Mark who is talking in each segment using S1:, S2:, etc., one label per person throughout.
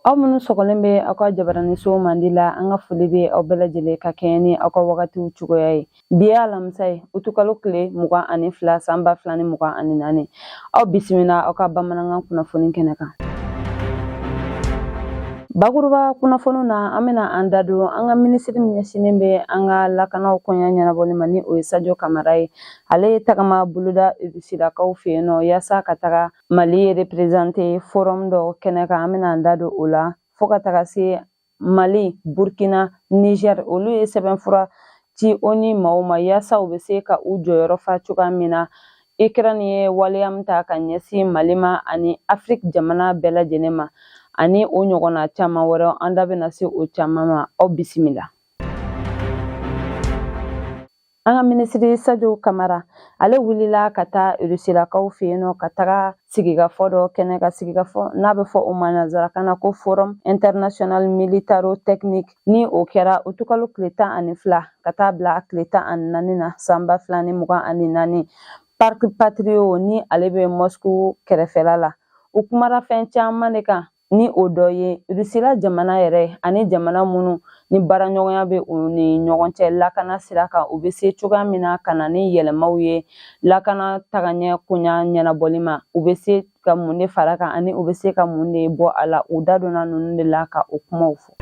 S1: aw minnu sɔgɔlen bɛ aw ka jabaraninso mandi la an ka foli bɛ aw bɛɛ lajɛlen ka kɛɲɛ ni aw ka wagatiw cogoya ye Bi ye alamisa ye utukalo tile mugan ani fila san ba fila ni mugan ani naani aw bisimila aw ka bamanankan kunnafoni kɛnɛ kan bakuruba kunnafoniw na an bɛna an da don an ka minisiri min ɲɛsinnen bɛ an ka lakanaw koɲa ɲɛnabɔli ma ni o ye sajo kamara ye ale ye tagama boloda rusilakaw fɛ yen nɔ yaasa ka taga mali reperezante forum dɔ kɛnɛ kan an bɛna an da don o la fo ka taga se mali burkina niger olu ye sɛbɛnfura ci onu maaw ma yaasa u bɛ se ka u jɔyɔrɔ fa cogoya min na ukraine ye waleya min ta ka ɲɛsin mali ma ani afiriki jamana bɛɛ lajɛlen ma ani o ɲɔgɔnna caman wɛrɛ an da bɛna se o caman ma aw bisimila An ka minisiri Sadio Kamara ale wulila ka taa Rusilakaw fɛ yen nɔ ka taga sigikafɔ dɔ kɛnɛ kan sigikafɔ n'a bɛ fɔ o ma nanzarakan na ko forum international militaro technique ni o kɛra utukalo tile tan ani fila ka taa bila tile tan ani naani na san ba fila ni mugan ani naani parc patriot ni ale bɛ Moscou kɛrɛfɛla la u kumara fɛn caman de kan ni o dɔ ye rusila jamana yɛrɛ ani jamana minnu ni baaraɲɔgɔnya bɛ u ni ɲɔgɔn cɛ lakana sira kan u bɛ se cogoya min na ka na ni yɛlɛmaw ye lakana tagaɲɛ koɲa ɲɛnabɔli ma u bɛ se ka mun de fara a kan ani u bɛ se ka mun de bɔ a la u da donna ninnu de la ka o kumaw fɔ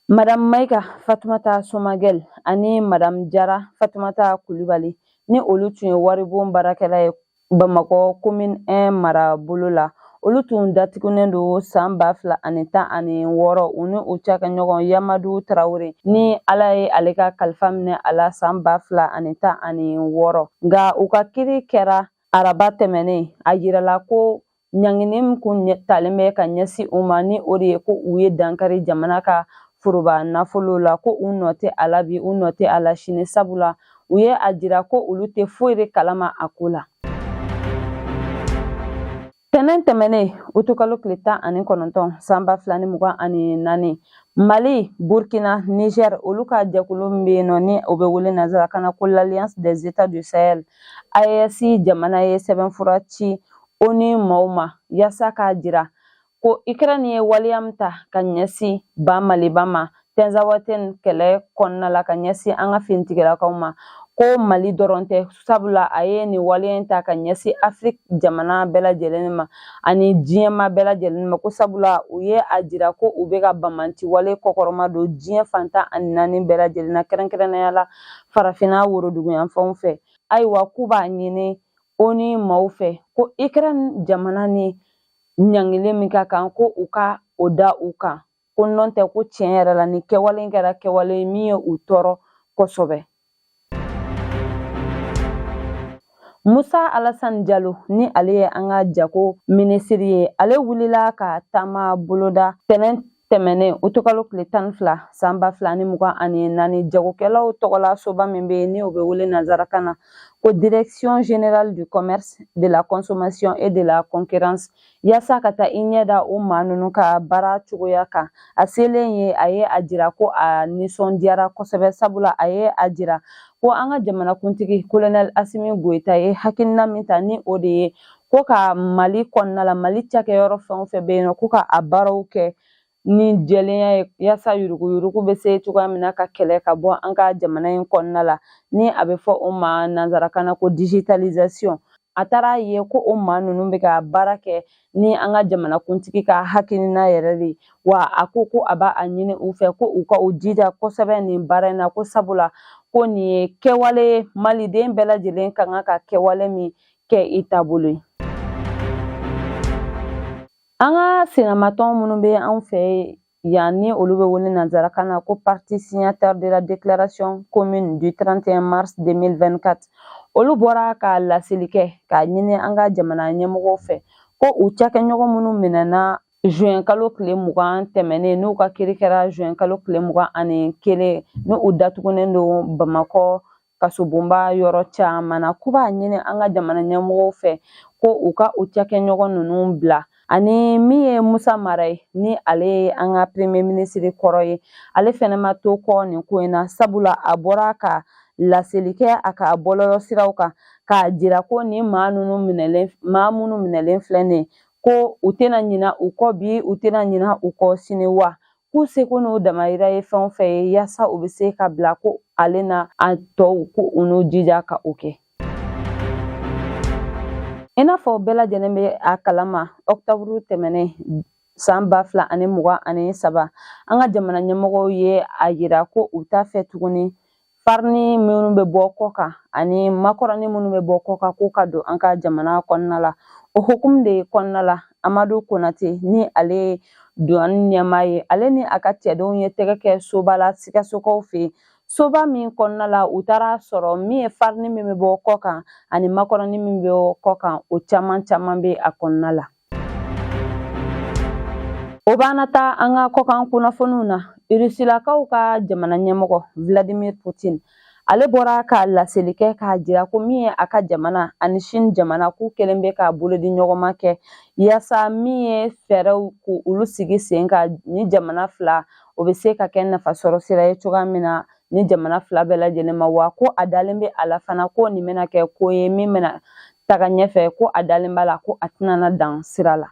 S1: madamu mayiga fatumata somagɛl ani madamu jara fatumata kulubali ni olu tun ye waribon baarakɛla ye bamakɔ komin 1 marabolo la olu tun datigunnen don san ba fila ani tan ani wɔɔrɔ u ni u cakɛɲɔgɔn yamadu tarawele ni ala ye ale ka kalifa minɛ a la san ba fila ani tan ani wɔɔrɔ nka u ka kiri kɛra araba tɛmɛnen a yirala ko ɲangini min kun talen bɛ ka ɲɛsin u ma ni o de ye ko u ye dankari jamana ka foroba nafolo la ko u nɔ tɛ a la bi u nɔ tɛ a la sini sabula u ye a jira ko olu tɛ foyi de kalama a ko la tɛnɛn tɛmɛnen utukalo tile tan ani kɔnɔntɔn san ba fila ni mugan ani naani mali burkina niger olu ka jɛkulu min bɛ yen nɔ ni o bɛ wele nanzarakan na ko l'alliance des états du sahel aes jamana ye sɛbɛnfura ci ONU maaw ma yaasa k'a jira ko Ukraine ye waleya min ta ka ɲɛsin ba Maliba ma Tinzawatɛn kɛlɛ kɔnɔna la ka ɲɛsin an ka finitigilakaw ma ko Mali dɔrɔn tɛ sabula a ye nin waleya in ta ka ɲɛsin Afiriki jamana bɛɛ lajɛlen ma ani diɲɛ maa bɛɛ lajɛlen ma ko sabula u ye a jira ko u bɛ ka banbaanci wale kɔkɔrɔmadon diɲɛ fan tan ani naani bɛɛ lajɛlen na kɛrɛnkɛrɛnnenya la farafinna woroduguyanfanw fɛ ayiwa k'u b'a ɲini ONU maaw fɛ ko Ukraine jamana ni ɲangili min ka kan ko u ka o da u kan ko n'o tɛ ko tiɲɛ yɛrɛ la nin kɛwale in kɛra kɛwale min ye u tɔɔrɔ kosɛbɛ musa alasan jalo ni ale ye an ka jago minisiri ye ale wulila ka taama boloda tɛnɛn tɛmɛnen utikalo tile tan ni fila san ba fila ni mugan ani naani jagokɛlaw tɔgɔla soba min bɛ yen ni o bɛ wele nanzarakan na ko direction générale du commerce de la consommation et de la concurrence yaasa ka taa i ɲɛ da o maa ninnu ka baara cogoya kan a selen yen a ye a jira ko a nisɔndiyara kosɛbɛ sabula a ye a jira ko an ka jamanakuntigi kolonɛli asimi goyita ye hakilina min ta ni o de ye ko ka mali kɔnɔna la mali cakɛyɔrɔ fɛn o fɛn bɛ yen nɔ ko ka a baaraw kɛ ni jɛlenya ye yaasa yuruguyurugu bɛ se cogoya min na ka kɛlɛ ka bɔ an ka jamana in kɔnɔna la ni a bɛ fɔ o ma nanzarakan na ko digitalisation a taara a ye ko o maa ninnu bɛ ka baara kɛ ni an ka jamanakuntigi ka hakilina yɛrɛ de wa a ko ko a b'a ɲini u fɛ ko u ka u jija kosɛbɛ nin baara in na ko sabula ko nin ye kɛwale maliden bɛɛ lajɛlen ka kan ka kɛwale min kɛ i taabolo ye an ka sennamatɔn minnu bɛ anw fɛ yan ni olu bɛ wele nanzarakan na ko parties signataires de la déclaration commune du 31 mars 2024 olu bɔra ka laseli kɛ k'a ɲini an ka jamana ɲɛmɔgɔw fɛ ko u cakɛɲɔgɔn minnu minɛna juin kalo tile mugan tɛmɛnen n'u ka kiri kɛra juin kalo tile mugan ani kelen ni u datugunen don bamakɔ kasobonba yɔrɔ caman na k'u b'a ɲini an ka jamana ɲɛmɔgɔw fɛ ko u ka u cakɛɲɔgɔn ninnu bila ani min ye musa mara ye ni ale ye an ka premier ministre kɔrɔ ye ale fɛnɛ ma to kɔ nin ko in na sabula a bɔra ka laseli kɛ a ka bɔlɔlɔ siraw kan k'a jira ko nin maa minnu minɛlen filɛ nin ye ko u tɛna ɲina u kɔ bi u tɛna ɲina u kɔ sini wa k'u seko n'u damayira ye fɛn o fɛn ye yaasa u bɛ se ka bila ko ale n'a tɔw ko u n'u jija ka o kɛ i n'a fɔ bɛɛ lajɛlen bɛ a kalama ɔkutɔburu tɛmɛnen san ba fila ani mugan ani saba an ka jamana ɲɛmɔgɔw ye a yira ko u t'a fɛ tuguni farini minnu bɛ bɔ kɔ kan ani makɔrɔni minnu bɛ bɔ kɔ kan k'u ka don an ka jamana kɔnɔna la o hukumu de kɔnɔna la amadu konate ni ale duwani ɲɛmaa ye ale ni a ka cɛdenw ye tɛgɛ kɛ soba la sikasokaw fɛ yen soba min kɔnɔna la u taara sɔrɔ min ye farini min bɛ bɔ kɔ kan ani makɔrɔni min bɛ kɔ kan o caman caman bɛ a kɔnɔna la O b'an na taa an ka kɔkan kunnafoniw na irisilakaw ka jamana ɲɛmɔgɔ vladimir putin ale bɔra ka laseli kɛ k'a jira ko min ye a ka jamana ani sini jamana k'u kɛlen bɛ ka bolodiɲɔgɔnma kɛ yaasa min ye fɛɛrɛw k'olu sigi sen kan nin jamana fila o bɛ se ka kɛ nafasɔrɔ sira ye cogoya min na nin jamana fila bɛɛ lajɛlen ma wa ko a dalen bɛ a la fana ko nin bɛna kɛ ko ye min bɛna taga ɲɛfɛ ko a dalen b'a la ko a tɛna dan sira la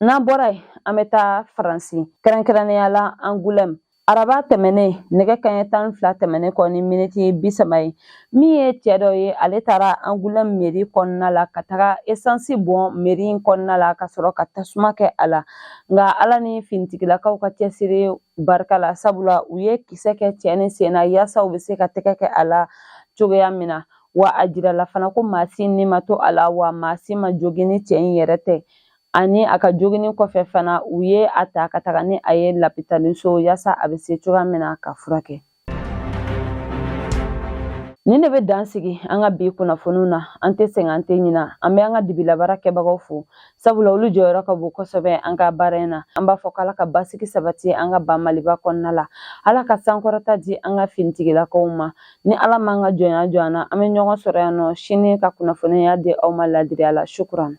S1: n'an bɔra yen an bɛ taa faransi kɛrɛnkɛrɛnnenya la angulɛm araba tɛmɛnen nɛgɛ kanɲɛ tan fila tɛmɛnen kɔ ni miniti bi saba ye min ye cɛ dɔ ye ale taara angulɛm meri kɔnɔna la ka taga esansi bɔn meri in kɔnɔna la ka sɔrɔ ka tasuma kɛ a la nka ala ni finitigilakaw ka cɛsiri barika la sabula u ye kisɛ kɛ cɛ nin sen na yaasa u bɛ se ka tɛgɛ kɛ a la cogoya min na wa a jirala fana ko maa si ni ma to a la wa maa si ma jogin ni cɛ in yɛrɛ tɛ ani a ka joginni kɔfɛ fana u ye a ta ka taga ni a ye lapitaliso yaasa a bɛ se cogoya min na ka furakɛ Nin de bɛ dan sigi an ka bi kunnafoniw na an tɛ sɛgɛn an tɛ ɲina an bɛ an ka dibilabaara kɛbagaw fo sabula olu jɔyɔrɔ ka bon kosɛbɛ an ka baara in na an b'a fɔ k'ala ka basigi sabati an ka ba maliba kɔnɔna la ala ka sankɔrɔta di an ka finitigilakaw ma ni ala m'an ka jɔnya jɔ an na an bɛ ɲɔgɔn sɔrɔ yan nɔ sini ka kunnafoniya di aw ma ladiriya la sukuran